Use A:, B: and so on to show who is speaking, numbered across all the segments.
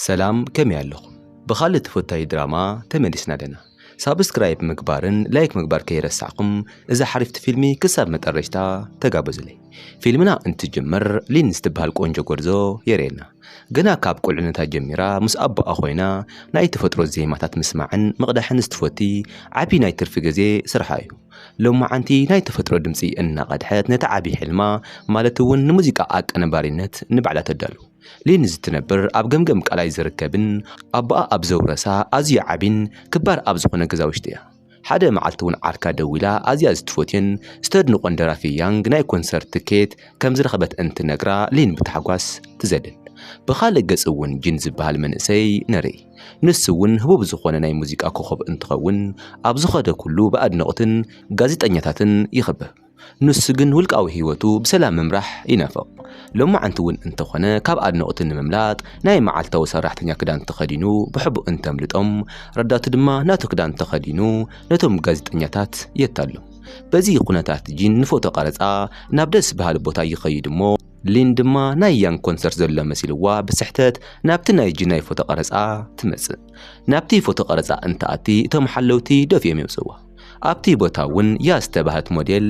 A: ሰላም ከመይ ኣለኹም ብኻልእ ተፈታዊ ድራማ ተመሊስና ኣለና ሳብስክራይብ ምግባርን ላይክ ምግባር ከይረሳዕኩም እዛ ሓሪፍቲ ፊልሚ ክሳብ መጠረሽታ ተጋበዙለይ ፊልምና እንትጅምር ሊን ዝትበሃል ቆንጆ ጎርዞ የርእየና ገና ካብ ቁልዕነታ ጀሚራ ምስ ኣቦኣ ኮይና ናይ ተፈጥሮ ዜማታት ምስማዕን ምቕዳሕን ዝትፈቲ ዓብዪ ናይ ትርፊ ግዜ ስርሓ እዩ ሎማዓንቲ ናይ ተፈጥሮ ድምፂ እናቐድሐት ነቲ ዓብዪ ሕልማ ማለት እውን ንሙዚቃ ኣቀነባሪነት ንባዕላ ተዳሉ ሊን ዝትነብር ኣብ ገምገም ቃላይ ዝርከብን ኣቦኣ ኣብ ዘውረሳ ኣዝዩ ዓቢን ክባር ኣብ ዝኾነ ገዛ ውሽጢ እያ። ሓደ መዓልቲ እውን ዓርካ ደዊላ ኣዝያ ዝትፎትዮን ዝተድንቆን ደራፊ ያንግ ናይ ኮንሰርት ትኬት ከምዝረኸበት እንትነግራ ሊን ብታሕጓስ ትዘልል። ብኻልእ ገፅ እውን ጂን ዝበሃል መንእሰይ ንርኢ። ንሱ እውን ህቡብ ዝኾነ ናይ ሙዚቃ ኮኾብ እንትኸውን ኣብ ዝኸዶ ኩሉ ብኣድነቕትን ጋዜጠኛታትን ይኽበብ። ንሱ ግን ውልቃዊ ህይወቱ ብሰላም ምምራሕ ይናፍቕ። ሎማዓንቲ እውን እንተኾነ ካብ ኣድነቕቱ ንምምላጥ ናይ መዓልታዊ ሰራሕተኛ ክዳን ተኸዲኑ ብሕቡእ እንተምልጦም ረዳቱ ድማ ናቱ ክዳን ተኸዲኑ ነቶም ጋዜጠኛታት የታልሎም። በዚ ኩነታት ጂን ንፎቶ ቀረፃ ናብ ደስ በሃሊ ቦታ ይኸይድ እሞ፣ ሊን ድማ ናይ ያንግ ኮንሰርት ዘሎ መሲልዋ ብስሕተት ናብቲ ናይ ጂን ናይ ፎቶ ቀረፃ ትመፅእ። ናብቲ ፎቶ ቀረፃ እንትኣቲ እቶም ሓለውቲ ደፊኦም የውፅእዋ። ኣብቲ ቦታ እውን እያ ዝተባህት ሞዴል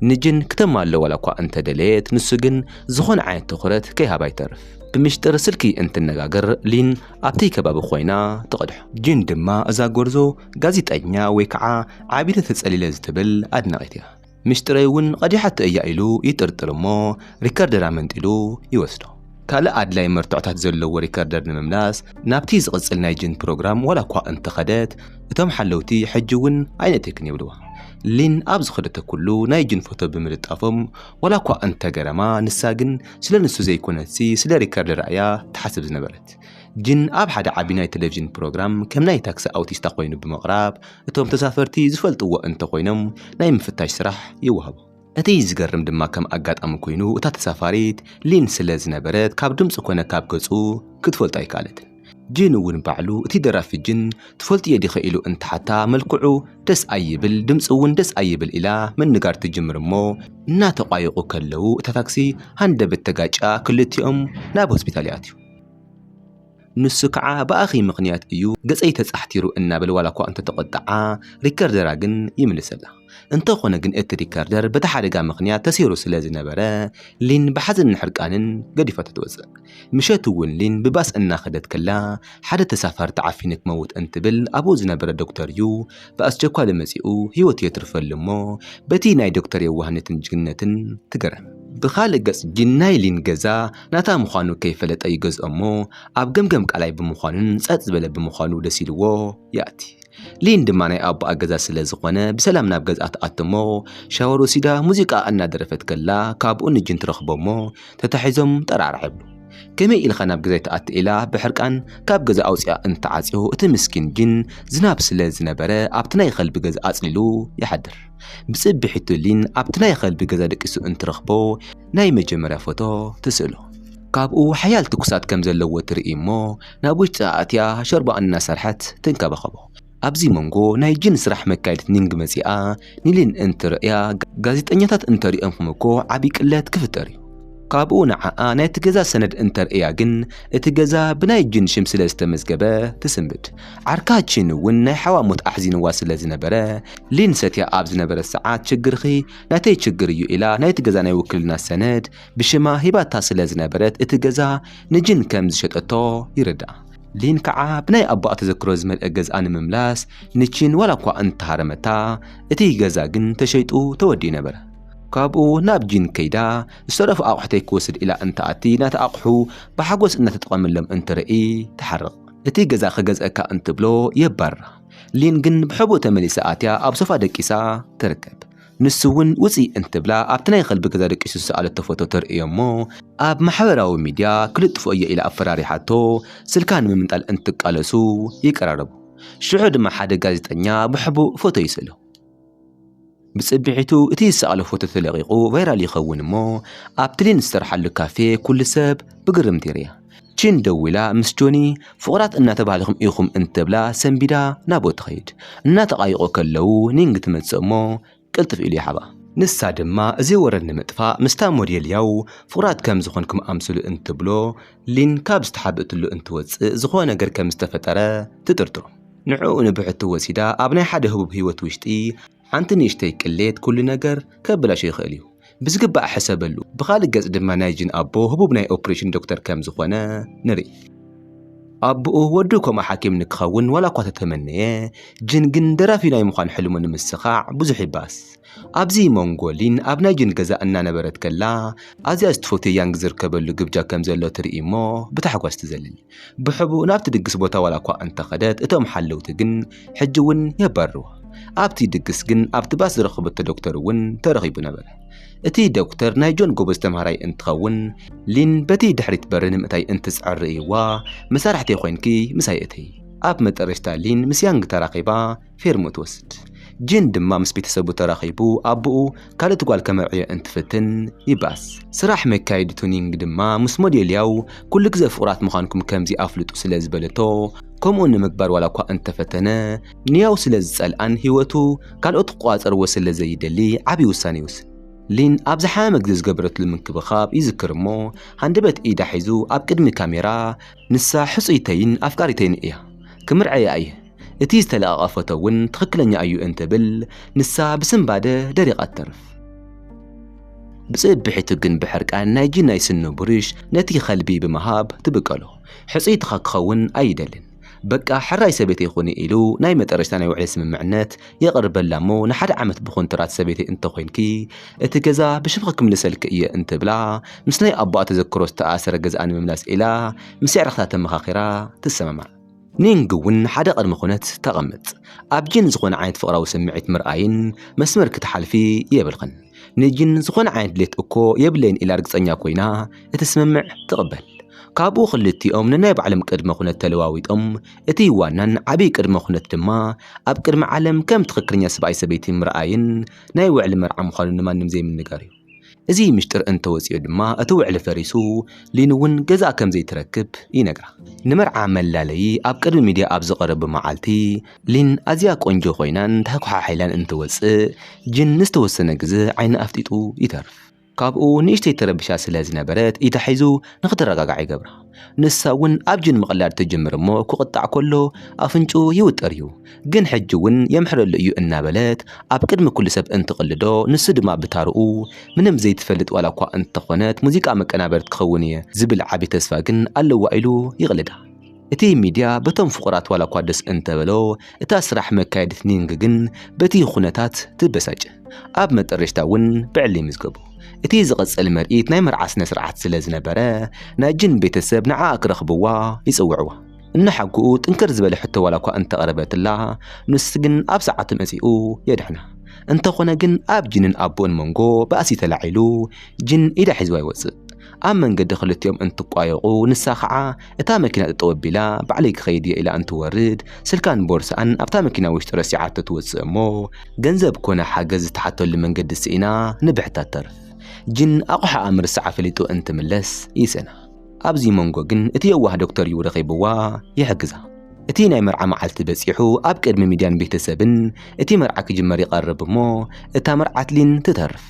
A: ንጅን ክተማሎ ዋላ እኳ እንተደለየት ንሱ ግን ዝኾነ ዓይነት ትኹረት ከይሃባ ይተርፍ። ብምሽጥር ስልኪ እንትነጋገር ሊን ኣብቲ ከባቢ ኮይና ትቐድሖ። ጂን ድማ እዛ ጎርዞ ጋዜጠኛ ወይ ከዓ ዓቢለ ተጸሊለ ዝትብል ኣድናቒት እያ። ምሽጥረይ እውን ቐዲሓቶ እያ ኢሉ ይጥርጥር እሞ ሪከርደር ኣመንጢሉ ይወስዶ። ካልእ ኣድላዪ መርትዖታት ዘለዎ ሪከርደር ንምምላስ ናብቲ ዝቕጽል ናይ ጅን ፕሮግራም ዋላ እኳ እንተኸደት፣ እቶም ሓለውቲ ሕጂ እውን ኣይነእትክን ይብልዋ። ሊን ኣብ ዝኸደቶ ኩሉ ናይ ጅን ፎቶ ብምልጣፎም ዋላ እኳ እንተገረማ፣ ንሳ ግን ስለ ንሱ ዘይኮነትሲ ስለ ሪከርደራ እያ ትሓስብ ዝነበረት። ጅን ኣብ ሓደ ዓቢ ናይ ተለቪዥን ፕሮግራም ከም ናይ ታክሲ ኣውቲስታ ኮይኑ ብምቕራብ፣ እቶም ተሳፈርቲ ዝፈልጥዎ እንተኾይኖም ናይ ምፍታሽ ስራሕ ይወሃቦም። እቲ ዝገርም ድማ ከም ኣጋጣሚ ኮይኑ እታ ተሳፋሪት ሊን ስለ ዝነበረት ካብ ድምጹ ኮነ ካብ ገጹ ክትፈልጦ ኣይከኣለትን። ጂን እውን ባዕሉ እቲ ደራፊ ጅን ትፈልጥዮ ዲኺ ኢሉ እንትሓታ መልክዑ ደስ ኣይብል ድምጹ እውን ደስ ኣይብል ኢላ ምንጋር ትጅምር እሞ እናተቋየቁ ከለው እታ ታክሲ ሃንደበት ተጋጭያ ክልቲኦም ናብ ሆስፒታል ይኣትዩ። ንሱ ከዓ ብኣኺ ምኽንያት እዩ ገፀይ ተፃሕቲሩ እናበለ ዋላ እኳ እንተተቖጠዓ ሪከርደራ ግን ይምልሰላ። እንተኾነ ግን እቲ ሪከርደር በቲ ሓደጋ ምኽንያት ተሰይሩ ስለ ዝነበረ ሊን ብሓዘንን ሕርቃንን ገዲፋቶ ትወፅእ። ምሸት እውን ሊን ብባስ እናኸደት ከላ ሓደ ተሳፋሪ ተዓፊኑ ክመውት እንትብል ኣብኡ ዝነበረ ዶክተር እዩ ብኣስቸኳሊ መፂኡ ህይወቱ የትርፈሉ እሞ በቲ ናይ ዶክተር የዋህነትን ጅግንነትን ትገረም። ብኻልእ ገፅ ግን ናይ ሊን ገዛ ናታ ምዃኑ ከይፈለጠ ይገዝኦ እሞ ኣብ ገምገም ቃላይ ብምዃኑን ጸጥ ዝበለ ብምዃኑ ደስ ኢልዎ ይኣቲ። ሊን ድማ ናይ ኣቦኣ ገዛ ስለ ዝኾነ ብሰላም ናብ ገዝኣ ትኣቱ እሞ ሻወር ወሲዳ ሙዚቃ እናደረፈት ከላ ካብኡ ንጅን ትረኽቦ እሞ ተታሒዞም ጠራዕራዕ ይብሉ። ከመይ ኢልኻ ናብ ገዛይ ትኣቲ ኢላ ብሕርቃን ካብ ገዛ ኣውጺኣ እንትዓጽዮ እቲ ምስኪን ጅን ዝናብ ስለ ዝነበረ ኣብቲ ናይ ኸልቢ ገዛ ኣጽሊሉ ይሓድር። ብጽብሒቱ ሊን ኣብቲ ናይ ኸልቢ ገዛ ደቂሱ እንትረኽቦ ናይ መጀመርያ ፎቶ ትስእሎ። ካብኡ ሓያል ትኩሳት ከም ዘለዎ ትርኢ እሞ ናብ ውሽጢ ኣእትያ ሾርባ እናሰርሐት ትንከባኸቦ። ኣብዚ መንጎ ናይ ጂን ስራሕ መካየዲት ኒንግ መጺኣ ኒሊን እንትርእያ ጋዜጠኛታት እንተሪኦምኩም እኮ ዓቢ ቅለት ክፍጠር እዩ። ካብኡ ንዓኣ ናይቲ ገዛ ሰነድ እንተርእያ ግን እቲ ገዛ ብናይ ጂን ሽም ስለ ዝተመዝገበ ትስንብድ። ዓርካ ቺን እውን ናይ ሓዋ ሞት ኣሕዚንዋ ስለ ዝነበረ ሊን ሰትያ ኣብ ዝነበረት ሰዓት ችግርኺ ናተይ ችግር እዩ ኢላ ናይቲ ገዛ ናይ ውክልና ሰነድ ብሽማ ሂባታ ስለ ዝነበረት እቲ ገዛ ንጂን ከም ዝሸጠቶ ይርዳእ። ሊን ከዓ ብናይ ኣቦኣ ተዘክሮ ዝመልአ ገዝኣ ንምምላስ ንቺን ዋላ እኳ እንተሃረመታ እቲ ገዛ ግን ተሸይጡ ተወዲኡ ነበረ። ካብኡ ናብ ጂን ከይዳ ዝተረፉ ኣቑሑተይ ክወስድ ኢላ እንትኣቲ ናቲ ኣቑሑ ብሓጎስ እናተጠቐመሎም እንትርኢ ትሓርቕ። እቲ ገዛ ክገዝኣካ እንትብሎ የባርራ። ሊን ግን ብሕቡእ ተመሊሳ ኣትያ ኣብ ሶፋ ደቂሳ ትርከብ። ንሱ እውን ውፂ እንትብላ ኣብቲ ናይ ኸልቢ ገዛ ደቂሱ ዝሰኣለቶ ፎቶ ተርእዮ እሞ ኣብ ማሕበራዊ ሚድያ ክልጥፎ እየ ኢላ ኣፈራሪሓቶ ስልካ ንምምንጣል እንትቃለሱ ይቀራረቡ። ሽዑ ድማ ሓደ ጋዜጠኛ ብሕቡእ ፎቶ ይስእሎ። ብጽብሒቱ እቲ ዝሰኣሎ ፎቶ ተለቒቑ ቫይራል ይኸውን እሞ ኣብ ትሊን ዝሰርሓሉ ካፌ ኩሉ ሰብ ብግርምቲ ይሪኣ። ቺን ደዊላ ምስ ጆኒ ፍቑራት እናተባህልኹም ኢኹም እንትብላ ሰንቢዳ ናብኡ ትኸይድ። እናተቓይቖ ከለዉ ኒንግ ትመጽእ እሞ ቅልጥፍ ኢሉ ይሓባ። ንሳ ድማ እዚ ወረ ንምጥፋእ ምስታ ሞዴል ያው ፍቑራት ከም ዝኾንኩም ኣምስሉ እንትብሎ ሊን ካብ ዝተሓብእትሉ እንትወጽእ ዝኾነ ነገር ከም ዝተፈጠረ ትጥርጥሮ። ንዕኡ ንብሕቲ ወሲዳ ኣብ ናይ ሓደ ህቡብ ህይወት ውሽጢ ሓንቲ ንእሽተይ ቅሌት ኩሉ ነገር ከበላሽዮ ይኽእል እዩ። ብዝግባእ ሕሰበሉ። ብኻልእ ገፅ ድማ ናይ ጂን ኣቦ ህቡብ ናይ ኦፕሬሽን ዶክተር ከም ዝኾነ ንርኢ። ኣቡኡ ወዱ ከምኡ ሓኪም ንክኸውን ዋላ እኳ ተተመነየ፣ ጂን ግን ደራፊ ናይ ምዃን ሕልሙ ንምስኻዕ ብዙሕ ይባእስ። ኣብዚ ሞንጎ ሊን ኣብ ናይ ጂን ገዛ እናነበረት ከላ ኣዝያ ዝትፈትዮ ያንግ ዝርከበሉ ግብጃ ከም ዘሎ ትርኢ እሞ ብታሕጓስ ትዘልል። ብሕቡእ ናብቲ ድግስ ቦታ ዋላ እኳ እንተ ኸደት፣ እቶም ሓለውቲ ግን ሕጂ እውን የባርርዋ። ኣብቲ ድግስ ግን ኣብቲ ባስ ዝረኸበቶ ዶክተር እውን ተረኺቡ ነበረ። እቲ ዶክተር ናይ ጆን ጎበዝ ተምሃራይ እንትኸውን፣ ሊን በቲ ድሕሪት በሪ ንምእታይ እንትጽዕር ርእይዋ፣ መሳርሕተይ ኾይንኪ ምሳይ እተዪ። ኣብ መጠረሽታ ሊን ምስ ያንግ ተራኺባ፣ ፌርሞ ትወስድ። ጂን ድማ ምስ ቤተሰቡ ተራኺቡ ኣቦኡ ካልእቲ ጓል ከመርዕዮ እንትፍትን ይባስ። ስራሕ መካየዲ ቱኒንግ ድማ ምስ ሞዴልያው ኩሉ ግዘ ፍቑራት ምዃንኩም ከምዚ ኣፍልጡ ስለ ዝበለቶ ከምኡ ንምግባር ዋላ እኳ እንተፈተነ ንያው ስለ ዝጸልኣን ህይወቱ ካልኦት ክቆጻጸርዎ ስለ ዘይደሊ ዓቢ ውሳነ ይውስን። ሊን ኣብ ዝሓመመ ግዘ ዝገበረትሉ ምንክብኻብ ይዝክር እሞ ሃንደበት ኢዳ ሒዙ ኣብ ቅድሚ ካሜራ ንሳ ሕጹይተይን ኣፍቃሪተይን እያ። ክምርዐያ እየ። እቲ ዝተለቐቐ ፎቶ እውን ትኽክለኛ እዩ እንትብል ንሳ ብስንባደ ደሪቓ ትተርፍ። ብጽብሒቱ ግን ብሕርቃን ናይ ጂናይ ስኑ ብሩሽ ነቲ ከልቢ ብምሃብ ትብቀሎ። ሕጽይትኻ ክኸውን ኣይደልን። በቃ ሕራይ ሰበይተይ ኹኒ ኢሉ ናይ መጠረሽታ ናይ ውዕሊ ስምምዕነት የቕርበላ እሞ ንሓደ ዓመት ብኹንትራት ሰበይተይ እንተኾይንኪ እቲ ገዛ ብሽምኺ ክምልሰልኪ እየ እንትብላ ምስ ናይ ኣቦኣ ተዘክሮ ዝተኣኣሰረ ገዝኣ ንምምላስ ኢላ ምስ የዕርኽታ ተመኻኺራ ትሰማማዕ። ኒንግ እውን ሓደ ቅድመ ኩነት ተቐምጥ። ኣብ ጂን ዝኾነ ዓይነት ፍቕራዊ ስምዒት ምርኣይን መስመር ክትሓልፊ የብልኽን። ንጂን ዝኾነ ዓይነት ድሌት እኮ የብለይን ኢላ ርግጸኛ ኮይና እቲ ስምምዕ ትቕበል። ካብኡ ክልቲኦም ነናይ ባዕሎም ቅድመ ኩነት ተለዋዊጦም፣ እቲ ዋናን ዓብይ ቅድመ ኩነት ድማ ኣብ ቅድሚ ዓለም ከም ትኽክለኛ ሰብኣይ ሰበይቲ ምርኣይን ናይ ውዕሊ መርዓ ምዃኑ ንማንም ዘይምንጋር እዩ። እዚ ምሽጥር እንተወፂኦ ድማ እቲ ውዕሊ ፈሪሱ ሊን እውን ገዛእ ከምዘይትረክብ ይነግራ። ንመርዓ መላለዪ ኣብ ቅድሚ ሚድያ ኣብ ዝቐረቡ መዓልቲ ሊን ኣዝያ ቆንጆ ኮይናን ተሓኩሓሒላን እንትወፅእ ጂን ንዝተወሰነ ግዘ ዓይኑ ኣፍጢጡ ይተርፍ። ካብኡ ንእሽተይ ተረቢሻ ስለዝነበረት ኢዳ ሒዙ ንክትረጋጋዕ ይገብራ። ንሳ እውን ኣብ ጅን ምቕላድ ትጅምር እሞ ክቕጣዕ ከሎ ኣፍንጭኡ ይውጠር እዩ። ግን ሕጂ እውን የምሕረሉ እዩ እናበለት ኣብ ቅድሚ ኩሉ ሰብ እንትቕልዶ ንሱ ድማ ብታርኡ ምንም ዘይትፈልጥ ዋላ እኳ እንተኾነት ሙዚቃ መቀናበርት ክኸውን እየ ዝብል ዓቢ ተስፋ ግን ኣለዋ ኢሉ ይቕልዳ። እቲ ሚድያ በቶም ፍቑራት ዋላ እኳ ደስ እንተበሎ እታ ስራሕ መካየዲት ኒንግ ግን በቲ ኹነታት ትበሳጭ። ኣብ መጠረሽታ እውን ብዕሊ ይምዝገቡ። እቲ ዝቕጽል ምርኢት ናይ መርዓ ስነ ስርዓት ስለ ዝነበረ ናይ ጅን ቤተሰብ ንዓኣ ክረኽብዋ ይጽውዕዋ። እናሓጉኡ ጥንክር ዝበለ ሕቶ ዋላ እኳ እንተቕረበትላ ንሱ ግን ኣብ ሰዓቱ መጺኡ የድሕና። እንተኾነ ግን ኣብ ጅንን ኣቡኡን መንጎ ባእሲ ተላዒሉ ጅን ኢዳ ሒዝዋ ይወጽእ። ኣብ መንገዲ ክልቲኦም እንትቋየቑ ንሳ ከዓ እታ መኪና ጠጠው ኣቢላ ባዕለይ ክኸይድ እየ ኢላ እንትወርድ ስልካን ቦርሳኣን ኣብታ መኪና ውሽጢ ረሲዓቶ ትወፅእ እሞ ገንዘብ ኮነ ሓገዝ ዝተሓተሉ መንገዲ ስኢና ንብሕታ ትተርፍ። ጅን ኣቑሓኣ ምርሳዓ ፈሊጡ እንትምለስ ይስእና። ኣብዚ መንጎ ግን እቲ የዋህ ዶክተር እዩ ረኺብዋ ይሕግዛ። እቲ ናይ መርዓ መዓልቲ በፂሑ ኣብ ቅድሚ ሚድያን ቤተሰብን እቲ መርዓ ክጅመር ይቐርብ እሞ እታ መርዓት ሊን ትተርፍ።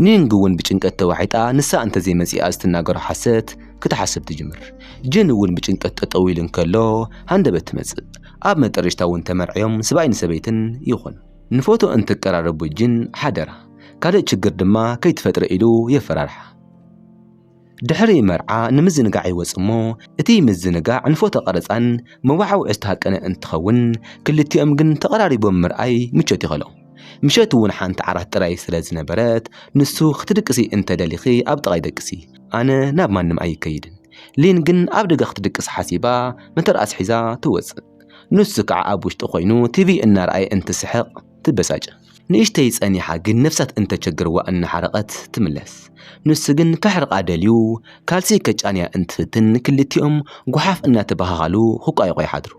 A: ኒንግ እውን ብጭንቀት ተዋሒጣ ንሳ እንተዘይመጺኣ ዝትናገሮ ሓሰት ክትሓስብ ትጅምር። ጅን እውን ብጭንቀት ጠጠው ኢሉ እንከሎ ሃንደበት ትመጽእ። ኣብ መጠረሽታ እውን ተመርዕዮም ስብኣይ ንሰበይትን ይኾኑ። ንፎቶ እንትቀራረቡ ጅን ሓደራ ካልእ ችግር ድማ ከይትፈጥሪ ኢሉ የፈራርሓ። ድሕሪ መርዓ ንምዝንጋዕ ይወጽ እሞ እቲ ምዝንጋዕ ንፎቶ ቀረጻን መወዓውዒ ዝተሃቀነ እንትኸውን ክልቲኦም ግን ተቐራሪቦም ምርኣይ ምቾት ይኸሎም። ምሸት እውን ሓንቲ ዓራት ጥራይ ስለ ዝነበረት ንሱ ክትድቅሲ እንተ ደሊኺ ኣብ ጥቓይ ደቅሲ ኣነ ናብ ማንም ኣይከይድን። ሊን ግን ኣብ ደገ ክትድቅስ ሓሲባ መተርኣስ ሒዛ ትወጽእ። ንሱ ከዓ ኣብ ውሽጢ ኮይኑ ቲቪ እናርኣየ እንትስሕቕ፣ ትበሳጭ ንእሽተይ ጸኒሓ ግን ነፍሳት እንተቸግርዋ እናሓረቐት ትምለስ ንሱ ግን ከሕርቓ ደልዩ ካልሲ ከጫንያ እንትፍትን ክልቲኦም ጉሓፍ እናተበሃሃሉ ክቋየቑ ይሓድሩ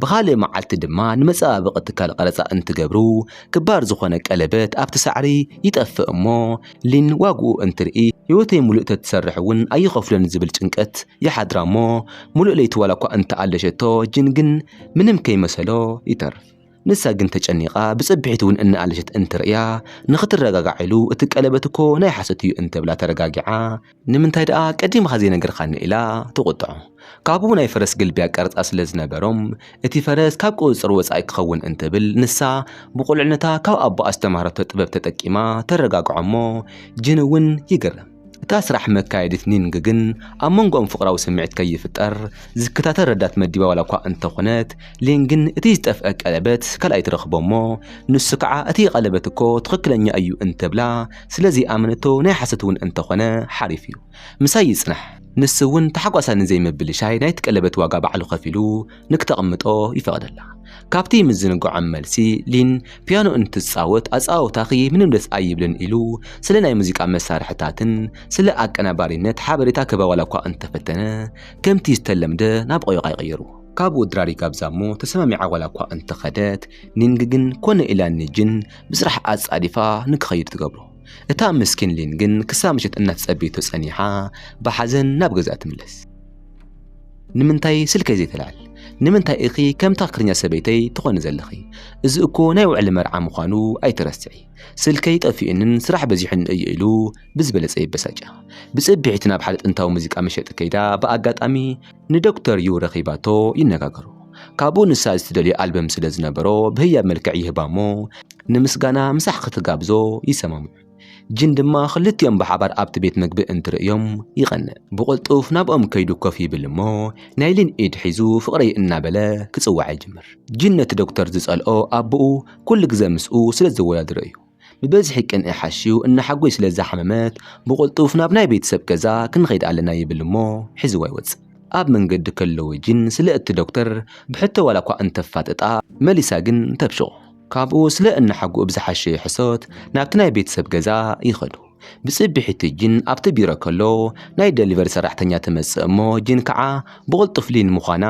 A: ብኻልእ መዓልቲ ድማ ንመጸባበቒ ትካል ቐረጻ እንትገብሩ ክባር ዝኾነ ቀለበት ኣብቲ ሳዕሪ ይጠፍእ እሞ ሊን ዋግኡ እንትርኢ ህይወተይ ሙሉእ ተትሰርሕ እውን ኣይኸፍሎን ዝብል ጭንቀት ይሓድራ እሞ ሙሉእ ለይቲ ዋላኳ እንተኣለሸቶ ጅን ግን ምንም ከይመሰሎ ይተርፍ ንሳ ግን ተጨኒቓ ብጽብሒት እውን እናኣለሸት እንትርእያ ንኽትረጋጋዕ ኢሉ እቲ ቀለበት እኮ ናይ ሓሶት እዩ እንተብላ ተረጋጊዓ ንምንታይ ደኣ ቀዲምኻ ዘይነገርካኒ ኢላ ትቑጥዖ። ካብኡ ናይ ፈረስ ግልቢ ኣቀርጻ ስለ ዝነበሮም እቲ ፈረስ ካብ ቁጽጽር ወጻኢ ክኸውን እንትብል ንሳ ብቑልዕነታ ካብ ኣቦኣ ዝተማህረቶ ጥበብ ተጠቂማ ተረጋግዖ እሞ ጅን እውን ይግረም። እታ ስራሕ መካየዲት ኒንግ ግን ኣብ መንጎኦም ፍቕራዊ ስምዒት ከይፍጠር ዝከታተል ረዳት መዲባ ዋላ እኳ እንተኾነት፣ ሊን ግን እቲ ዝጠፍኣ ቀለበት ካልኣይ ትረኽቦ'ሞ ንሱ ከዓ እቲ ቀለበት እኮ ትኽክለኛ እዩ እንትብላ ስለዘይኣመነቶ ናይ ሓሶት'ውን እንተኾነ ሓሪፍ'ዩ ምሳይ ይጽናሕ ንሱ'ውን ታሕጓሳ ንዘይምብልሻይ ናይቲ ቀለበት ዋጋ ባዕሉ ከፊሉ ንክተቕምጦ ይፈቕደላ። ካብቲ ምዝንግዖም መልሲ ሊን ፒያኖ እንትትጻወት ኣጻወታኺ ምንም ደስ ኣይብልን ኢሉ ስለ ናይ ሙዚቃ መሳርሕታትን ስለ ኣቀናባሪነት ሓበሬታ ክህባ ዋላ እኳ እንተፈተነ ከምቲ ዝተለምደ ናብ ቆይቓይ ቀየሩ። ካብኡ ድራር ይጋብዛ እሞ ተሰማሚዓ ዋላ እኳ እንተኸደት ኒንግ ግን ኮነ ኢላ ንጂን ብስራሕ ኣጻዲፋ ንክኸይድ ትገብሮ። እታ ምስኪን ሊን ግን ክሳብ ምሸት እናተጸበየቶ ጸኒሓ ብሓዘን ናብ ገዝኣ ትምለስ። ንምንታይ ስልከይ ዘይተላል ንምንታይ እኺ ከም ትኽክለኛ ሰበይተይ ትኾኒ ዘለኺ እዚ እኮ ናይ ውዕሊ መርዓ ምዃኑ ኣይትረስዒ ስልከይ ጠፊኡንን ስራሕ በዚሑን እዩ ኢሉ ብዝበለጸ ይበሳጫ ብጽብሒት ናብ ሓደ ጥንታዊ ሙዚቃ መሸጢ ከይዳ ብኣጋጣሚ ንዶክተር ዩ ረኺባቶ ይነጋገሩ ካብኡ ንሳ ዝትደልዮ ኣልበም ስለ ዝነበሮ ብህያብ መልክዕ ይህባ እሞ ንምስጋና ምሳሕ ክትጋብዞ ይሰማምዑ ጂን ድማ ክልቲኦም ብሓባር ኣብቲ ቤት ምግቢ እንትርእዮም ይቐንእ። ብቕልጡፍ ናብኦም ከይዱ ኮፍ ይብል እሞ ናይ ሊን ኢድ ሒዙ ፍቕረይ እናበለ ክጽውዓ ይጅምር። ጂን ነቲ ዶክተር ዝጸልኦ ኣቦኡ ኩሉ ግዘ ምስኡ ስለ ዘወዳድሮ እዩ። ብብዝሒ ቅንኢ ሓሽዩ እናሓጎይ ስለ ዝሓመመት ብቕልጡፍ ናብ ናይ ቤተሰብ ገዛ ክንኸይድ ኣለና ይብል እሞ ሒዝዋ ይወጽእ። ኣብ መንገዲ ከለዉ ጂን ስለ እቲ ዶክተር ብሕቶ ዋላኳ እንተፋጥጣ መሊሳ ግን ተብሽቖ። ካብኡ ስለ እነሓጉኡ ብዝሓሸ ሕሶት ናብቲ ናይ ቤተሰብ ገዛ ይኸዱ። ብጽብሒቱ ጂን ኣብቲ ቢሮ ከሎ ናይ ደሊቨሪ ሰራሕተኛ ትመጽእ እሞ ጂን ከዓ ብቕልጡፍ ሊን ምዃና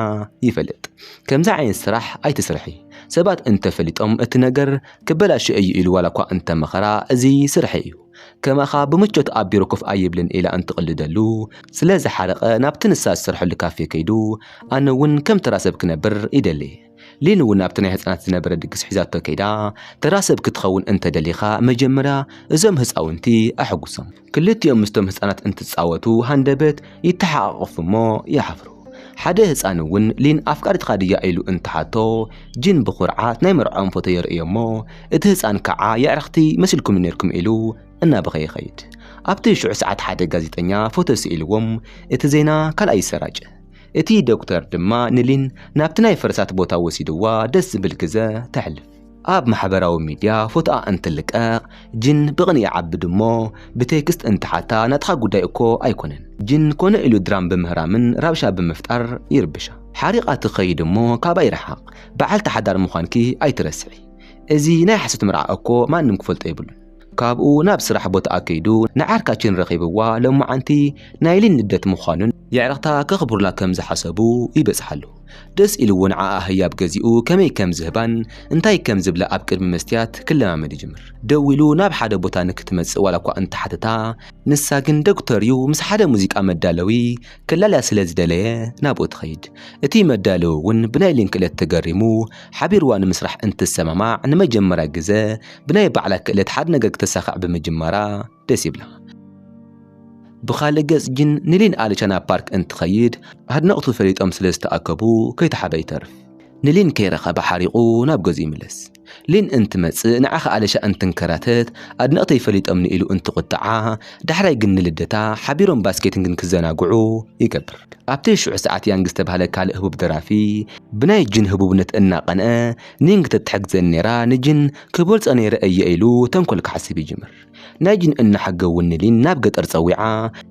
A: ይፈልጥ። ከምዚ ዓይነት ስራሕ ኣይትስርሒ፣ ሰባት እንተፈሊጦም እቲ ነገር ክበላሾ እዩ ኢሉ ዋላ እኳ እንተመኸራ እዚ ስርሐይ እዩ፣ ከማኻ ብምቾት ኣብ ቢሮ ኮፍ ኣይብልን ኢላ እንትቕልደሉ ስለ ዝሓረቐ ናብቲ ንሳ ዝሰርሐሉ ካፌ ከይዱ ኣነ እውን ከም ተራ ሰብ ክነብር ይደሊ። ሊን እውን ኣብቲ ናይ ህጻናት ዝነበረ ድግስ ሒዛቶ ከይዳ፣ ተራ ሰብ ክትኸውን እንተ ደሊኻ መጀመርያ እዞም ህጻውንቲ ኣሐጉሶም። ክልቲኦም ምስቶም ህጻናት እንትጻወቱ ሃንደበት ይተሓቛቖፉ እሞ ይሓፍሩ። ሓደ ህጻን እውን ሊን ኣፍቃሪትካ ድያ ኢሉ እንትሓቶ፣ ጂን ብኹርዓት ናይ መርዕኦም ፎቶ የርእዮ እሞ እቲ ህጻን ክዓ የዕርኽቲ መሲልኩምኒ ኔርኩም ኢሉ እናበኸየ ይኸይድ። ኣብቲ ሽዑ ሰዓት ሓደ ጋዜጠኛ ፎቶ ስኢልዎም እቲ ዜና ካልኣይ ይሰራጨ። እቲ ዶክተር ድማ ንሊን ናብቲ ናይ ፈረሳት ቦታ ወሲድዋ ደስ ዝብል ግዘ ተሕልፍ። ኣብ ማሕበራዊ ሚድያ ፎቶኣ እንትልቀቕ ጂን ብቕንኢ ይዓቢ ድሞ ብቴክስት እንትሓታ ናትኻ ጉዳይ እኮ ኣይኮነን ጂን ኮነ ኢሉ ድራም ብምህራምን ራብሻ ብምፍጣር ይርብሻ ሓሪቓ ትኸይድ እሞ ካባይ ርሓቕ በዓልቲ ሓዳር ምዃንኪ ኣይትረስዒ እዚ ናይ ሓሶት መርዓ እኮ ማንም ክፈልጦ የብሉን ካብኡ ናብ ስራሕ ቦታኣ ከይዱ ንዓርካችን ረኺብዋ ሎማዓንቲ ናይ ሊን ልደት ምዃኑን የዕርኽታ ከኽብሩላ ከም ዝሓሰቡ ይበጽሓሉ። ደስ ኢልዎ ንዓኣ ህያብ ገዚኡ ከመይ ከም ዝህባን እንታይ ከም ዝብላ ኣብ ቅድሚ መስትያት ክለማመድ ይጅምር። ደዊሉ ናብ ሓደ ቦታ ንክትመጽእ ዋላኳ እንተሓተታ ንሳ ግን ዶክተር'ዩ ምስ ሓደ ሙዚቃ መዳለዊ ከላልያ ስለ ዝደለየ ናብኡ ትኸይድ። እቲ መዳለዊ'ውን ብናይ ሊን ክእለት ተገሪሙ ሓቢርዋ ንምስራሕ እንትሰማማዕ ንመጀመርያ ግዘ ብናይ ባዕላ ክእለት ሓደ ነገር ክተሳኽዕ ብምጅማራ ደስ ይብላ። ብኻልእ ገጽ ግን ንሊን ኣልቻ ናብ ፓርክ እንትኸይድ ኣድነቕቱ ፈሊጦም ስለ ዝተኣከቡ ከይተሓበ ይተርፍ። ንሊን ከይረኸበ ሓሪቑ ናብ ገዝኡ ይምለስ። ሊን እንትመጽእ ንዓኻ ኣልሻ እንትንከራተት ኣድነቕተይ ፈሊጦምኒ ኢሉ እንትቑጥዓ፣ ዳሕራይ ግን ንልደታ ሓቢሮም ባስኬትን ግን ክዘናግዑ ይገብር። ኣብቲ ሽዑ ሰዓት ያንግ ዝተባህለ ካልእ ህቡብ ደራፊ ብናይ ጂን ህቡብነት እናቐንዐ፣ ኒንግ ተትሕግዘኒ ነይራ ንጂን ክበልፆ ነይረ እየ ኢሉ ተንኮል ክሓስብ ይጅምር። ናይ ጂን እና ሓገ እውን ንሊን ናብ ገጠር ፀዊዓ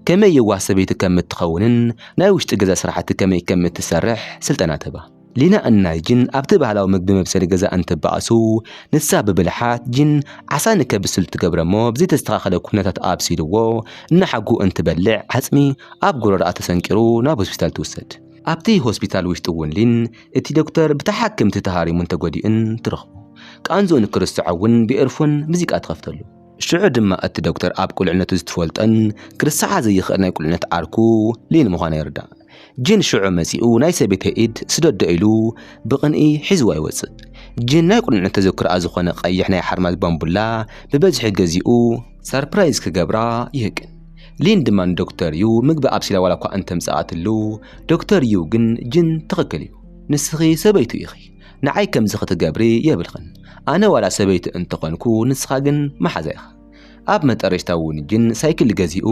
A: ከመይ የዋህ ሰበይቲ ከም እትኸውንን ናይ ውሽጢ ገዛ ስራሕቲ ከመይ ከም እትሰርሕ ስልጠና ትህባ። ሊና እና ጂን ኣብቲ ባህላዊ ምግቢ መብሰሊ ገዛ እንትበኣሱ ንሳ ብብልሓት ጂን ዓሳ ንከብስል ትገብረ እሞ ብዘይተስተኻኸለ ኩነታት ኣብሲልዎ እና ሓጉ እንትበልዕ ዓፅሚ ኣብ ጎረርኣ ተሰንቂሩ ናብ ሆስፒታል ትውሰድ። ኣብቲ ሆስፒታል ውሽጢ እውን ሊን እቲ ዶክተር ብተሓክምቲ ተሃሪሙን ተጎዲኡን ትረኽቦ። ቃንዝኡ ንክርስዖ እውን ብኤርፎን ሙዚቃ ትኸፍተሉ። ሽዑ ድማ እቲ ዶክተር ኣብ ቁልዕነቱ ዝትፈልጦን ክርስዓ ዘይኽእል ናይ ቁልዕነት ዓርኩ ሊን ምዃና ይርዳእ። ጂን ሽዑ መጺኡ ናይ ሰበይተይ ኢድ ስደዶ ኢሉ ብቕንኢ ሒዝዋ ይወጽእ። ጂን ናይ ቁልዕነት ተዘክሮኣ ዝኾነ ቀይሕ ናይ ሓርማዝ ባምቡላ ብበዝሒ ገዚኡ፣ ሰርፕራይዝ ክገብራ ይህቅን ሊን ድማ ንዶክተር ዩ ምግቢ ኣብሲላ ዋላ እኳ እንተምፀኣትሉ ዶክተር ዩ ግን ጅን ትኽክል እዩ ንስኺ ሰበይቱ ኢኺ ንዓይ ከምዚ ክትገብሪ የብልኽን ኣነ ዋላ ሰበይቲ እንተኾንኩ ንስኻ ግን መሓዛ ኢኻ ኣብ መጠረሽታ እውን ጅን ሳይክል ገዚኡ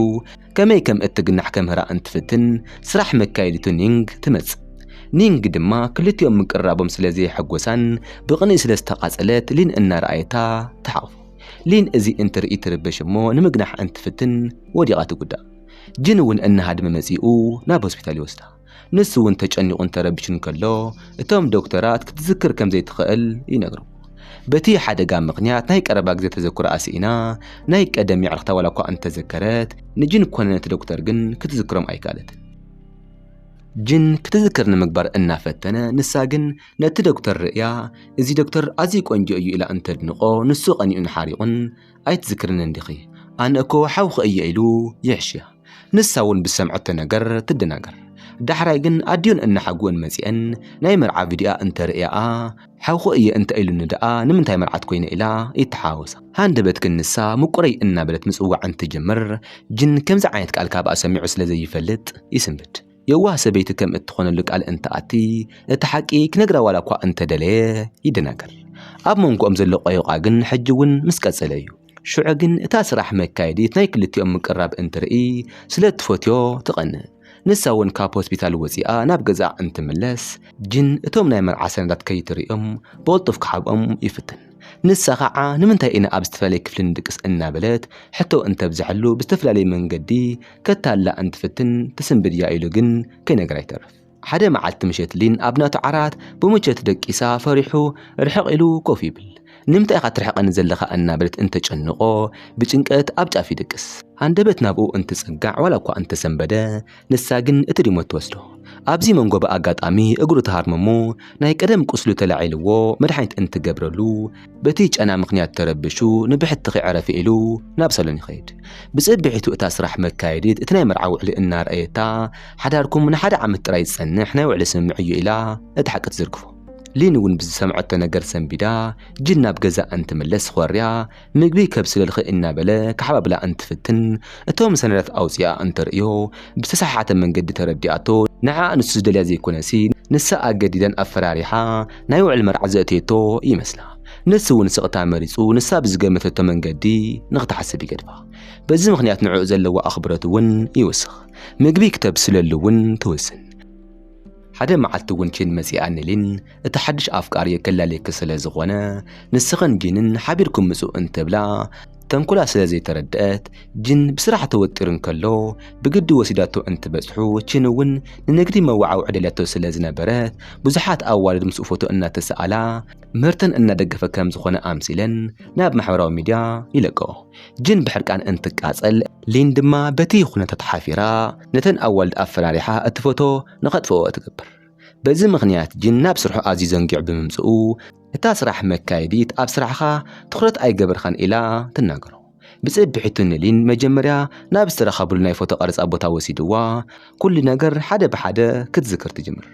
A: ከመይ ከም እትግናሕ ከምህራ እንትፍትን ስራሕ መካየዲቱ ኒንግ ትመፅእ ኒንግ ድማ ክልቲኦም ምቅርራቦም ስለ ዘየሐጎሳን ብቕንኢ ስለ ዝተቓፀለት ሊን እናረኣየታ ተሓቑፉ ሊን እዚ እንትርኢ ትርበሽ እሞ ንምግናሕ እንትፍትን ወዲቓ ትጉዳእ። ጂን እውን እናሃደመ መጺኡ ናብ ሆስፒታል ይወስዳ። ንሱ እውን ተጨኒቑን ተረቢሹን ከሎ እቶም ዶክተራት ክትዝክር ከም ዘይትኽእል ይነግርዎ። በቲ ሓደጋ ምኽንያት ናይ ቀረባ ግዜ ተዘክሮኣ ስኢና፣ ናይ ቀደም የዕርኽታ ዋላ እኳ እንተዘከረት፣ ንጂን ኮነ ነቲ ዶክተር ግን ክትዝክሮም ኣይከኣለትን። ጂን ክትዝክር ንምግባር እናፈተነ ንሳ ግን ነቲ ዶክተር ርእያ፣ እዚ ዶክተር ኣዝዩ ቆንጆ እዩ ኢላ እንተድንቖ፣ ንሱ ቀኒኡን ሓሪቑን፣ ኣይትዝክርን እንዲኺ፣ ኣነ እኮ ሓውኺ እየ ኢሉ ይሕሽያ። ንሳ እውን ብዝሰምዐቶ ነገር ትደናገር። ዳሕራይ ግን ኣዲኡን እነሓጉኡን መጺኤን ናይ መርዓ ቪድዮኣ እንተርእያኣ፣ ሓውኺ እየ እንተ ኢሉኒ ደኣ ንምንታይ መርዓት ኮይነ ኢላ ይተሓዋወሳ። ሃንደበት ግን ንሳ ምቁረይ እናበለት ምጽዋዕ እንትትጅምር፣ ጅን ከምዚ ዓይነት ቃል ካብኣ ሰሚዑ ስለ ዘይፈልጥ ይስንብድ። የዋህ ሰበይቲ ከም እትኾነሉ ቃል እንትኣቲ፣ እቲ ሓቂ ክነግራ ዋላ እኳ እንተ ደለየ፣ ይደናገር። ኣብ መንጎኦም ዘሎ ቆይቋ ግን ሕጂ እውን ምስ ቀጸለ እዩ። ሽዑ ግን እታ ስራሕ መካየዲት ናይ ክልቲኦም ምቅርራብ እንትርኢ፣ ስለ እትፈትዮ ትቐንእ። ንሳ እውን ካብ ሆስፒታል ወጺኣ ናብ ገዛኣ እንትምለስ፣ ጂን እቶም ናይ መርዓ ሰነዳት ከይትርእዮም ብቕልጡፍ ክሓብኦም ይፍትን። ንሳ ኸዓ ንምንታይ ኢና ኣብ ዝተፈላለየ ክፍሊ ንድቅስ እናበለት ሕቶ እንተብዘሐሉ ብዝተፈላለየ መንገዲ ከታልላ እንትፍትን ትስንብድ እያ ኢሉ ግን ከይነገራ ይተርፍ። ሓደ መዓልቲ ምሸት ሊን ኣብ ናቱ ዓራት ብምቾት ደቂሳ ፈሪሑ ርሕቕ ኢሉ ኮፍ ይብል። ንምንታይ ኢኻ ትርሕቐኒ ዘለኻ እናበለት እንተጨንቖ ብጭንቀት ኣብ ጫፍ ይድቅስ። ሃንደበት ናብኡ እንትጽጋዕ ዋላ እኳ እንተሰንበደ ንሳ ግን እቲ ሪሞት ትወስዶ። ኣብዚ መንጎ ብኣጋጣሚ እግሩ ተሃርመሞ ናይ ቀደም ቁስሉ ተላዒልዎ መድሓኒት እንትገብረሉ በቲ ጨና ምኽንያት ተረብሹ ንብሕትኺ ዕረፊ ኢሉ ናብ ሰሎን ይኸይድ። ብጽብሒቱ እታ ስራሕ መካየዲት እቲ ናይ መርዓ ውዕሊ እናርኣየታ ሓዳርኩም ንሓደ ዓመት ጥራይ ዝጸንሕ ናይ ውዕሊ ስምምዕ እዩ ኢላ እቲ ሓቂ ትዝርግፎ። ሊን እውን ብዝሰምዐቶ ነገር ሰንቢዳ ጂን ናብ ገዛኣ እንትምለስ ኾርያ ምግቢ ከብስለልኺ እናበለ ክሓባብላ እንትፍትን እቶም ሰነዳት ኣውፂኣ እንተርእዮ ብዝተሰሓሓተ መንገዲ ተረዲኣቶ ንዓኣ ንሱ ዝደልያ ዘይኮነሲ ንሳ ኣገዲዳን ኣፈራሪሓ ናይ ውዕል መርዓ ዘእተየቶ ይመስላ። ንሱ እውን ስቕታ መሪፁ ንሳ ብዝገመተቶ መንገዲ ንኽትሓስብ ይገድፋ። በዚ ምኽንያት ንዕኡ ዘለዋ ኣኽብሮት እውን ይውስኽ። ምግቢ ክተብስለሉ እውን ትውስን። ሓደ መዓልቲ እውን ቺን መጺኣ ንሊን እቲ ሓድሽ ኣፍቃሪ ከላልየኪ ስለ ዝኾነ ንስኽን ጂንን ሓቢርኩም ምጹ እንትብላ ተንኮላ ስለ ዘይተረድአት ጂን ብስራሕ ተወጢሩ እንከሎ ብግዲ ወሲዳቶ እንትበጽሑ ቺን እውን ንንግዲ መወዓውዒ ደልያቶ ስለ ዝነበረት ብዙሓት ኣዋልድ ምስኡ ፎቶ እናተሰኣላ ምህርተን እናደገፈ ከም ዝኾነ ኣምሲለን ናብ ማሕበራዊ ሚድያ ይለቀኦ። ጅን ብሕርቃን እንትቃጸል ሊን ድማ በቲ ኩነታት ሓፊራ ነተን ኣዋልድ ኣፈራሪሓ እቲ ፎቶ ንኸጥፍኦ ትገብር። በዚ ምኽንያት ጅን ናብ ስርሑ ኣዝዩ ዘንጊዑ ብምምጽኡ እታ ስራሕ መካየዲት ኣብ ስራሕኻ ትኹረት ኣይገበርካን ኢላ ትናገሮ። ብጽብሒቱ ንሊን መጀመርያ ናብ ዝተረኻብሉ ናይ ፎቶ ቀረጻ ቦታ ወሲድዋ ኩሉ ነገር ሓደ ብሓደ ክትዝክር ትጅምር።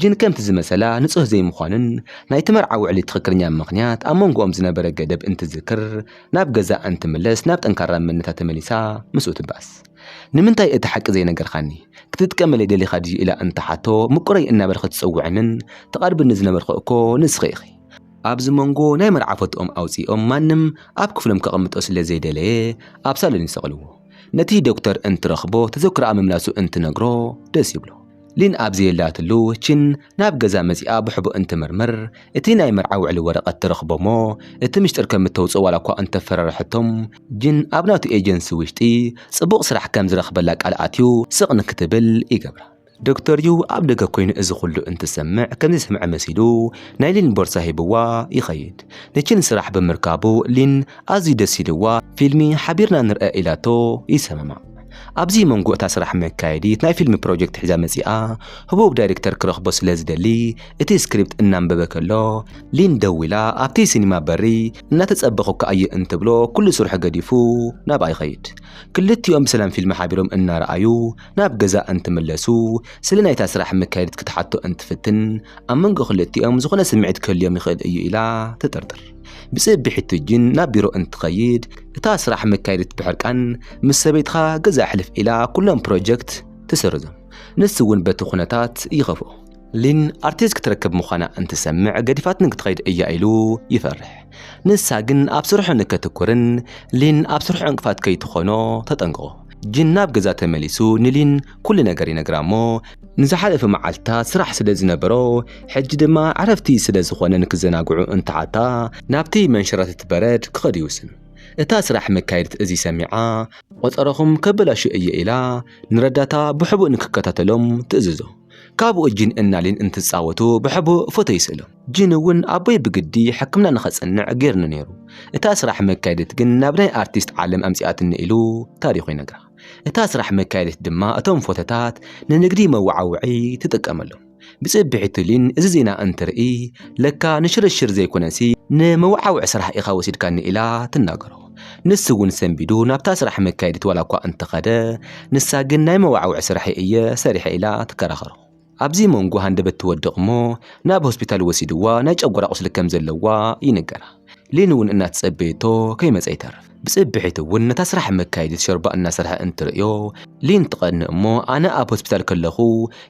A: ጅን ከምቲ ዝመሰላ ንጹህ ዘይምዃኑን ናይቲ መርዓ ውዕሊ ትኽክለኛ ምኽንያት ኣብ መንጎኦም ዝነበረ ገደብ እንትዝክር ናብ ገዛኣ እንትምለስ ናብ ጠንካራ መንነታ ተመሊሳ ምስኡ ትበኣስ። ንምንታይ እቲ ሓቂ ዘይነገርካኒ? ክትጥቀመለይ ደሊኻ ድዩ ኢላ እንትትሓቶ ምቁረይ እናበልኪ ትጽውዕንን ትቐርብኒ ዝነበርኩ እኮ ንስኺ ኢኺ። ኣብዚ መንጎ ናይ መርዓ ፎቶኦም ኣውጺኦም ማንም ኣብ ክፍሎም ከቐምጦ ስለ ዘይደለየ ኣብ ሳሎን ይሰቕልዎ። ነቲ ዶክተር እንትረኽቦ ተዘክሮኣ ምምላሱ እንትነግሮ ደስ ይብሎ። ሊን ኣብ ዘየላትሉ ቺን ናብ ገዛ መጺኣ ብሕቡእ እንትምርምር እቲ ናይ መርዓ ውዕሊ ወረቐት ትረኽቦ'ሞ እቲ ምሽጥር ከም እተውጽኦ ዋላኳ እንተፈራርሐቶም ጂን ኣብ ናቱ ኤጀንሲ ውሽጢ ጽቡቕ ስራሕ ከም ዝረኽበላ ቃል ኣትዩ ስቕ ንክትብል ይገብራ። ዶክተር ዩ ኣብ ደገ ኮይኑ እዚ ኩሉ እንትሰምዕ ከም ዘይሰምዐ መሲሉ ናይ ሊን ቦርሳ ሂብዋ ይኸይድ። ንቺን ስራሕ ብምርካቡ ሊን ኣዝዩ ደስ ኢልዋ ፊልሚ ሓቢርና ንርኣ ኢላቶ ይሰማማዕ። ኣብዚ መንጎ እታ ስራሕ መካየዲት ናይ ፊልም ፕሮጀክት ሒዛ መጺኣ ህቡብ ዳይሬክተር ክረኽቦ ስለ ዝደሊ እቲ ስክሪፕት እናንበበ ከሎ ሊን ደው ኢላ ኣብቲ ሲኒማ በሪ እናተጸበኹካ እየ እንትብሎ ኩሉ ስርሑ ገዲፉ ናብኣ ይኸይድ። ክልቲኦም ብሰላም ፊልም ሓቢሮም እናረኣዩ ናብ ገዛ እንትምለሱ ስለ ናይታ ስራሕ መካየዲት ክትሓቶ እንትፍትን ኣብ መንጎ ክልቲኦም ዝኾነ ስምዒት ክህልዮም ይኽእል እዩ ኢላ ትጥርጥር። ብፅእ ብሕቲ ጅን ናብ ቢሮ እንትኸይድ እታ ስራሕ መካየዲት ብሕርቃን ምስ ሰበይትኻ ገዛ ሕልፍ ኢላ ኩሎም ፕሮጀክት ትስርዞም ንሱ እውን በቲ ኩነታት ይኸፍኦ ሊን ኣርቲስት ክትረክብ ምዃና እንትሰምዕ ገዲፋትኒ ክትኸይድ እያ ኢሉ ይፈርሕ ንሳ ግን ኣብ ስርሑ ንከትኩርን ሊን ኣብ ስርሑ ዕንቅፋት ከይትኾኖ ተጠንቅቖ ጅን ናብ ገዛ ተመሊሱ ንሊን ኩሉ ነገር ይነግራ እሞ ንዝሓለፈ መዓልትታት ስራሕ ስለ ዝነበሮ ሕጂ ድማ ዕረፍቲ ስለ ዝኾነ ንክዘናግዑ እንትሓታ ናብቲ መንሸራተቲ በረድ ክኸዱ ይውስኑ። እታ ስራሕ መካየዲት እዚ ሰሚዓ ቆጸረኹም ከበላሹ እየ ኢላ ንረዳታ ብሕቡእ ንክከታተሎም ትእዝዞ። ካብኡ ጂን እና ሊን እንትጻወቱ ብሕቡእ ፎቶ ይስእሎም። ጂን እውን ኣቦይ ብግዲ ሕክምና ንኸጽንዕ ገይርኒ ነይሩ፣ እታ ስራሕ መካየዲት ግን ናብ ናይ ኣርቲስት ዓለም ኣምጺኣትኒ ኢሉ ታሪኹ ይነግራ። እታ ስራሕ መካየዲት ድማ እቶም ፎቶታት ንንግዲ መወዓውዒ ትጥቀመሎም። ብጽብሒ ቱሊን እዚ ዜና እንትርኢ፣ ለካ ንሽርሽር ዘይኮነሲ ንመወዓውዒ ስራሕ ኢኻ ወሲድካኒ ኢላ ትናገሮ። ንሱ እውን ሰንቢዱ ናብታ ስራሕ መካየዲት ዋላኳ እንተኸደ፣ ንሳ ግን ናይ መወዓውዒ ስራሕይ እየ ሰሪሐ ኢላ ትከራኸሮ። ኣብዚ መንጎ ሃንደበት ትወድቕ እሞ ናብ ሆስፒታል ወሲድዋ ናይ ጨጎራ ቁስሊ ከም ዘለዋ ይንገራ። ሊን እውን እናተጸበየቶ ከይመጸ ይተርፍ። ብጽብሒት እውን ነታ ስራሕ መካየዲት ሾርባ እናሰርሐ እንትርእዮ ሊን ትቐንእ እሞ ኣነ ኣብ ሆስፒታል ከለኹ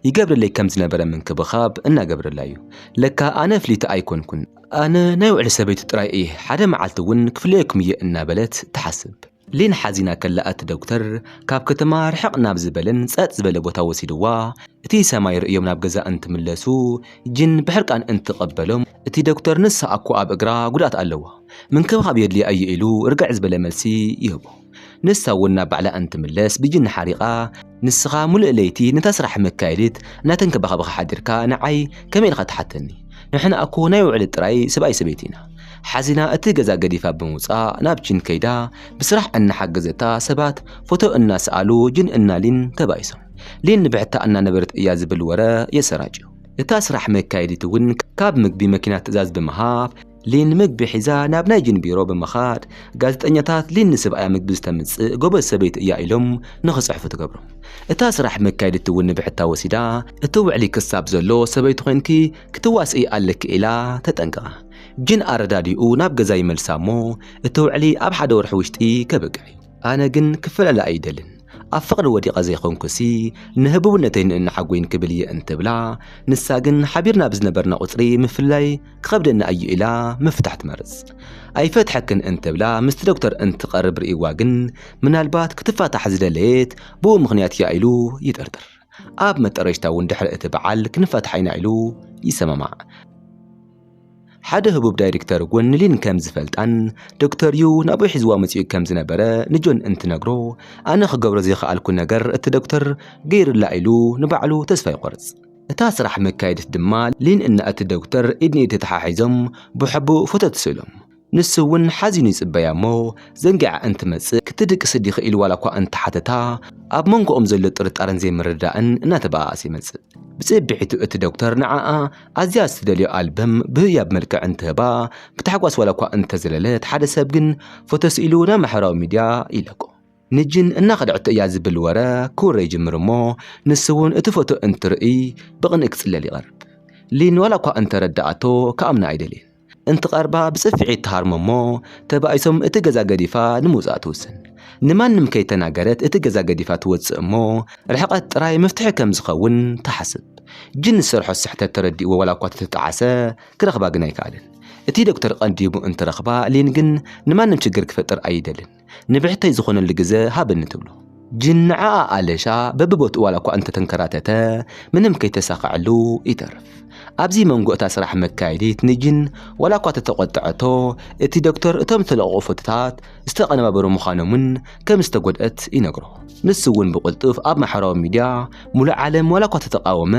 A: ይገብረለይ ከም ዝነበረ ምንክብኻብ እናገብረላ እዩ። ለካ ኣነ ፍልይቲ ኣይኮንኩን። ኣነ ናይ ውዕሊ ሰበይቱ ጥራይ እየ፣ ሓደ መዓልቲ እውን ክፍለየኩም እየ እናበለት ትሓስብ። ሊን ሓዚና ከላ እቲ ዶክተር ካብ ከተማ ርሕቕ ናብ ዝበለን ጸጥ ዝበለ ቦታ ወሲድዋ እቲ ሰማይ ርእዮም ናብ ገዛ እንትምለሱ ጂን ብሕርቃን እንትቐበሎም እቲ ዶክተር ንሳ ኣኮ ኣብ እግራ ጉድኣት ኣለዋ ምንክብኻብ የድልያ እዩ ኢሉ ርግዕ ዝበለ መልሲ ይህቦ። ንሳ እውን ናብ ባዕላ እንትምለስ ብጂን ሓሪቓ ንስኻ ሙሉእ ለይቲ ነታ ስራሕ መካየዲት እናተንከባኸብኻ ሓዲርካ ንዓይ ከመይ ኢልካ ትሓተኒ ንሕና ኣኮ ናይ ውዕለት ጥራይ ሰብኣይ ሰበይቲ ኢና ሓዚና እቲ ገዛ ገዲፋ ብምውፃእ ናብ ቺን ከይዳ ብስራሕ እናሓገዘታ ሰባት ፎቶ እናሰኣሉ ጅን እና ሊን ተባኢሶም። ሊን ንብሕታ እናነበረት እያ ዝብል ወረ የሰራጭዩ። እታ ስራሕ መካየዲት እውን ካብ ምግቢ መኪና ትእዛዝ ብምሃብ ሊን ምግቢ ሒዛ ናብ ናይ ጅን ቢሮ ብምኻድ ጋዜጠኛታት ሊን ንስብኣያ ምግቢ ዝተምፅእ ጎበዝ ሰበይቲ እያ ኢሎም ንክፅሕፉ ትገብሮም። እታ ስራሕ መካየዲት እውን ንብሕታ ወሲዳ እቲ ውዕሊ ክሳብ ዘሎ ሰበይቲ ኮይንኪ ክትዋስኢ ኣለኪ ኢላ ተጠንቅቃ ጅን ኣረዳዲኡ ናብ ገዛ ይመልሳ እሞ እቲ ውዕሊ ኣብ ሓደ ወርሒ ውሽጢ ከብቅዕ እዩ ኣነ ግን ክፈላለ ኣይደልን ኣብ ፍቅሪ ወዲቀ ዘይኮንኩሲ ንህቡብነተይ ንእናሓጎይን ክብል እየ እንትብላ ንሳ ግን ሓቢርና ብዝነበርና ቁፅሪ ምፍልላይ ክከብደኒ ኣዩ ኢላ ምፍታሕ ትመርፅ ኣይፈትሐክን እንትብላ ምስቲ ዶክተር እንትቀርብ ሪእዋ ግን ምናልባት ክትፋታሕ ዝደለየት ብኡ ምክንያት እያ ኢሉ ይጥርጥር ኣብ መጠረሽታ እውን ድሕሪ እቲ በዓል ክንፈትሓ ኢና ኢሉ ይሰማማዕ። ሓደ ህቡብ ዳይሬክተር ጎን ሊን ከም ዝፈልጣን ዶክተር ዩ ናብኡ ሒዝዋ መጺኡ ከም ዝነበረ ንጆን እንትነግሮ ኣነ ክገብሮ ዘይከኣልኩ ነገር እቲ ዶክተር ገይሩላ ኢሉ ንባዕሉ ተስፋ ይቖርጽ። እታ ስራሕ መካየዲት ድማ ሊን እና እቲ ዶክተር ኢድ ንኢድ ተተሓሒዞም ብሕቡእ ፎቶ ትስእሎም። ንሱ እውን ሓዚኑ ይጽበያ እሞ ዘንጊዓ እንትመጽእ ክትድቅሲ ዲኺ ኢሉ ዋላ እኳ እንተሓተታ ኣብ መንጎኦም ዘሎ ጥርጣረን ዘይምርድዳእን እናተበኣኣሰ ይመጽእ። ብጽብሒቱ እቲ ዶክተር ንዓኣ ኣዝያ እትደልዮ ኣልበም ብህያብ መልክዕ እንትህባ ብታሕጓስ ዋላ እኳ እንተዘለለት ሓደ ሰብ ግን ፎቶ ስኢሉ ናብ ማሕበራዊ ሚድያ ይለቆ። ንጅን እናኸደዐቶ እያ ዝብል ወረ ክውረ ይጅምር እሞ ንሱ እውን እቲ ፎቶ እንትርእይ ብቕንኢ ክፅለል ይቐርብ። ሊን ዋላ እኳ እንተረደኣቶ ክኣምና ኣይደልየን። እንትቐርባ ብፅፍዒት ትሃርሞ እሞ ተባኢሶም እቲ ገዛ ገዲፋ ንምውፃእ ትውስን። ንማንም ከይተናገረት እቲ ገዛ ገዲፋ ትወፅእ እሞ ርሕቐት ጥራይ መፍትሒ ከም ዝኸውን ትሓስብ። ጅን ዝሰርሖ ስሕተት ተረዲእዎ ዋላ እኳ ተተጣዕሰ ክረኽባ ግን ኣይከኣለን። እቲ ዶክተር ቐንዲሙ እንትረኽባ ሊን ግን ንማንም ችግር ክፈጥር ኣይደልን። ንብሕተይ ዝኾነሉ ግዘ ሃበኒ ትብሎ። ጅን ንዓኣ ኣለሻ በብቦትኡ ዋላ እኳ እንተተንከራተተ ምንም ከይተሳኸዐሉ ይተርፍ። ኣብዚ መንጎ እታ ስራሕ መካየዲት ንጅን ዋላ እኳ ተተቖጠዐቶ እቲ ዶክተር እቶም ዝተለቐቑ ፎቶታት ዝተቐነባበሩ ምዃኖምን ከም ዝተጎድኣት ይነግሮ። ንሱ እውን ብቕልጡፍ ኣብ ማሕበራዊ ሚድያ ሙሉእ ዓለም ዋላ እኳ ተተቓወመ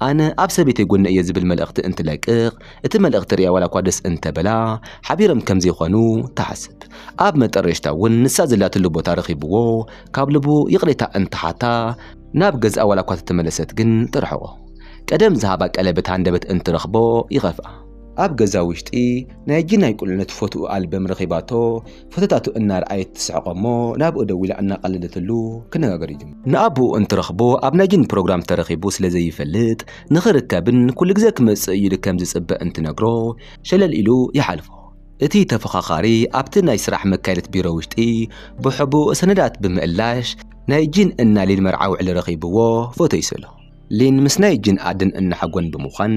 A: ኣነ ኣብ ሰበይተይ ጎኒ እየ ዝብል መልእኽቲ እንትለቅቕ እቲ መልእኽቲ ርያ ዋላ እኳ ደስ እንተበላ ሓቢሮም ከም ዘይኮኑ ትሓስብ። ኣብ መጠረሽታ እውን ንሳ ዘላትሉ ቦታ ረኺብዎ ካብ ልቡ ይቕሬታ እንትሓታ ናብ ገዝኣ ዋላ እኳ ተተመለሰት ግን ትርሕቖ። ቀደም ዝሃባ ቀለበት ሃንደበት እንትረኽቦ ይኸፍኣ። ኣብ ገዛ ውሽጢ ናይጂ ናይ ቁልዕነት ፎትኡ ኣልበም ረኺባቶ ፎቶታቱ እናርኣየት ትስሕቆ እሞ ናብኡ ደው ኢላ እናቐለደትሉ ክነጋገር ይጅምሩ። ንኣቡኡ እንትረኽቦ ኣብ ናይጂን ፕሮግራም ተረኺቡ ስለ ዘይፈልጥ ንኽርከብን ኩሉ ግዜ ክመጽእ ኢሉ ከም ዝጽበ እንትነግሮ ሸለል ኢሉ ይሓልፎ። እቲ ተፈኻኻሪ ኣብቲ ናይ ስራሕ መካየድት ቢሮ ውሽጢ ብሕቡእ ሰነዳት ብምእላሽ ናይ ጂን እና ሊን መርዓ ውዕሊ ረኺብዎ ፎቶ ይስእሎ። ሊን ምስ ናይ ጂን ኣደን እና ሓጎን ብምዃን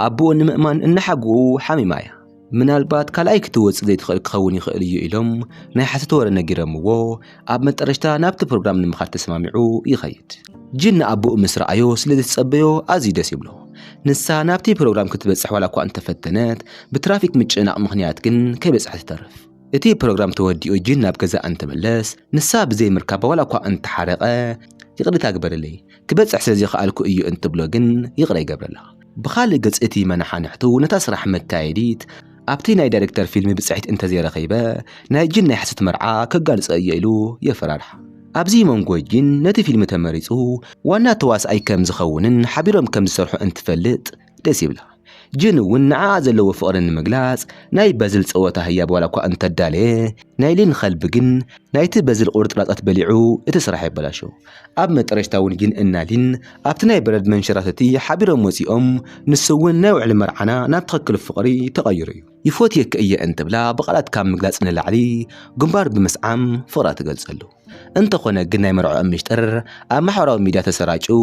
A: ኣቡኡ ንምእማን እናሓጉኡ ሓሚማ እያ። ምናልባት ካልኣይ ክትወጽእ ዘይትኽእል ክኸውን ይኽእል እዩ ኢሎም ናይ ሓሶት ወረ ነጊረምዎ ኣብ መጠረሽታ ናብቲ ፕሮግራም ንምኻድ ተሰማሚዑ ይኸይድ። ጂን ንኣቦኡ ምስ ረኣዮ ስለ ዝተጸበዮ ኣዝዩ ደስ ይብሎ። ንሳ ናብቲ ፕሮግራም ክትበጽሕ ዋላ እኳ እንተፈተነት ብትራፊክ ምጭንናቕ ምኽንያት ግን ከይበጽሐት ትተርፍ። እቲ ፕሮግራም ተወዲኡ ጂን ናብ ገዛኣ እንትምለስ ንሳ ብዘይ ምርካባ ዋላ እኳ እንተሓረቐ ይቕሬታ ግበርለይ ክበጽሕ ስለ ዘይኸኣልኩ እዩ እንትብሎ ግን ይቕረ ይገብረላ። ብኻልእ ገፅ እቲ መነሓንሕቱ ነታ ስራሕ መካየዲት ኣብቲ ናይ ዳይሬክተር ፊልሚ ብፅሒት እንተዘይረኺበ ናይ ጂን ናይ ሓሶት መርዓ ከጋልፆ እየ ኢሉ የፈራርሓ። ኣብዚ መንጎ ጂን ነቲ ፊልሚ ተመሪፁ ዋና ተዋስኣይ ከምዝኸውንን ሓቢሮም ከምዝሰርሑ እንትፈልጥ ደስ ይብላ። ጂን እውን ንዓኣ ዘለዎ ፍቕሪ ንምግላፅ ናይ በዝል ፀወታ ህያብ ዋላ እኳ እንተዳለየ ናይ ሊን ኸልቢ ግን ናይቲ በዝል ቁርፅራፃት በሊዑ እቲ ስራሕ የበላሹ። ኣብ መጠረሽታ እውን ጊን እና ሊን ኣብቲ ናይ በረድ መንሸራተቲ ሓቢሮም ወጺኦም ንሱ እውን ናይ ውዕሊ መርዓና ናብ ትኽክል ፍቕሪ ተቐይሩ እዩ። ይፎትየኪ እየ እንትብላ ብቓላት ካብ ምግላጽ ንላዕሊ ግንባር ብምስዓም ፍቕራ ትገልጸሉ። እንተኾነ ግን ናይ መርዕኦም ሚሽጥር ኣብ ማሕበራዊ ሚድያ ተሰራጭዩ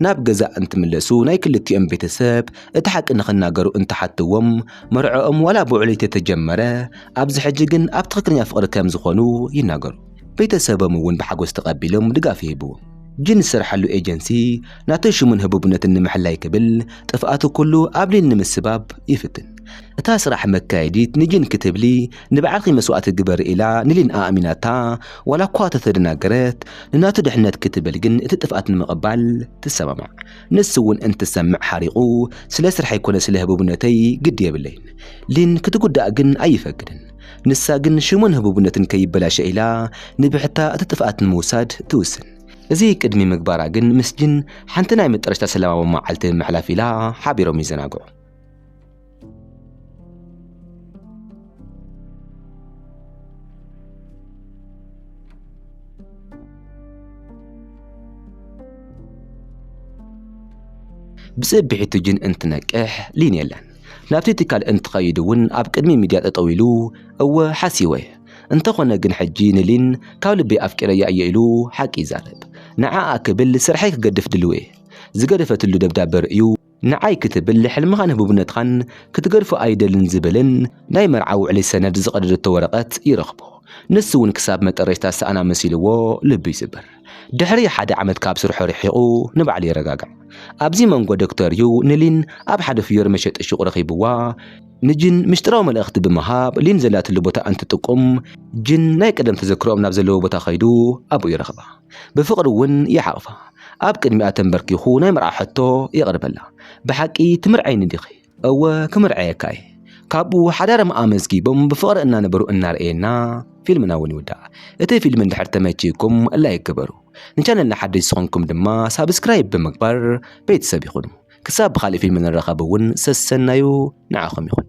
A: ናብ ገዛ እንትምለሱ ናይ ክልቲኦም ቤተሰብ እቲ ሓቂ ንኽናገሩ እንትሓትዎም መርዕኦም ዋላ ብውዕሊ ተተጀመረ ኣብዚ ሕጂ ግን ኣብ ትኽክለኛ ፍቕሪ ከም ዝኾኑ ይናገሩ። ቤተሰቦም እውን ብሓጎስ ተቐቢሎም ድጋፍ ይህቡ። ጂን ዝሰርሓሉ ኤጀንሲ ናቱ ሽሙን ህቡብነቱን ንምሕላይ ክብል ጥፍኣቱ ኩሉ ኣብ ሊን ንምስባብ ይፍትን። እታ ስራሕ መካየዲት ንጂን ክትብሊ ንባዕልኺ መስዋእቲ ግበሪ ኢላ ንሊን ኣእሚናታ ዋላ እኳ ተተደናገረት ንናቱ ድሕነት ክትብል ግን እቲ ጥፍኣት ንምቕባል ትሰማማዕ። ንሱ እውን እንትሰምዕ ሓሪቑ ስለ ስርሐይ ኮነ ስለ ህቡብነተይ ግዲ የብለይን። ሊን ክትጉዳእ ግን ኣይፈቅድን። ንሳ ግን ሽሙን ህቡብነትን ከይበላሸ ኢላ ንብሕታ እቲ ጥፍኣት ንምውሳድ ትውስን። እዚ ቅድሚ ምግባራ ግን ምስ ጂን ሓንቲ ናይ መጠረሽታ ሰላማዊ መዓልቲ ንምሕላፍ ኢላ ሓቢሮም ይዘናግዑ። ብጽብሒቱ ጂን እንትነቅሕ ሊን የለን። ናብቲ ትካል እንትኸይድ እውን ኣብ ቅድሚ ሚድያ ጠጠው ኢሉ እወ ሓሲወ እንተኾነ ግን ሕጂ ንሊን ካብ ልበይ ኣፍቂረያ እየ ኢሉ ሓቂ ይዛረብ። ንዓኣ ክብል ስርሐይ ክገድፍ ድልው'የ። ዝገደፈትሉ ደብዳበ ርእዩ ንዓይ ክትብል ሕልምኻን ህቡብነትኻን ክትገድፎ ኣይደልን ዝብልን ናይ መርዓ ውዕሊ ሰነድ ዝቐደደቶ ወረቐት ይረኽቦ። ንሱ እውን ክሳብ መጠረሽታ ዝሰኣና መሲልዎ ልቡ ይስበር። ድሕሪ ሓደ ዓመት ካብ ስርሑ ርሒቑ ንባዕሉ የረጋጋዕ። ኣብዚ መንጎ ዶክተር ዩ ንሊን ኣብ ሓደ ፍዮሪ መሸጢ ሹቕ ረኺብዋ፣ ንጂን ምስጢራዊ መልእኽቲ ብምሃብ ሊን ዘላትሉ ቦታ እንትጥቁም፣ ጂን ናይ ቀደም ተዘክሮኦም ናብ ዘለዎ ቦታ ከይዱ ኣብኡ ይረኽባ። ብፍቕሪ ውን ይሓቕፋ። ኣብ ቅድሚኣ ተንበርኪኹ ናይ መርዓ ሕቶ የቕርበላ፣ ብሓቂ ትምርዓይኒ ዲኺ? እወ ክምርዐየካ እየ ካብኡ ሓዳርም ኣመዝጊቦም ብፍቕሪ እናነበሩ እናርኣየና ፊልምና እውን ይውዳእ እቲ ፊልም እንድሕር ተመችይኩም ላይክ ግበሩ ንቻነልና ሓደሽ ዝኾንኩም ድማ ሳብስክራይብ ብምግባር ቤተሰብ ይኹኑ ክሳብ ብኻልእ ፊልም ንራኸብ እውን ሰሰናዩ ንዓኹም ይኹን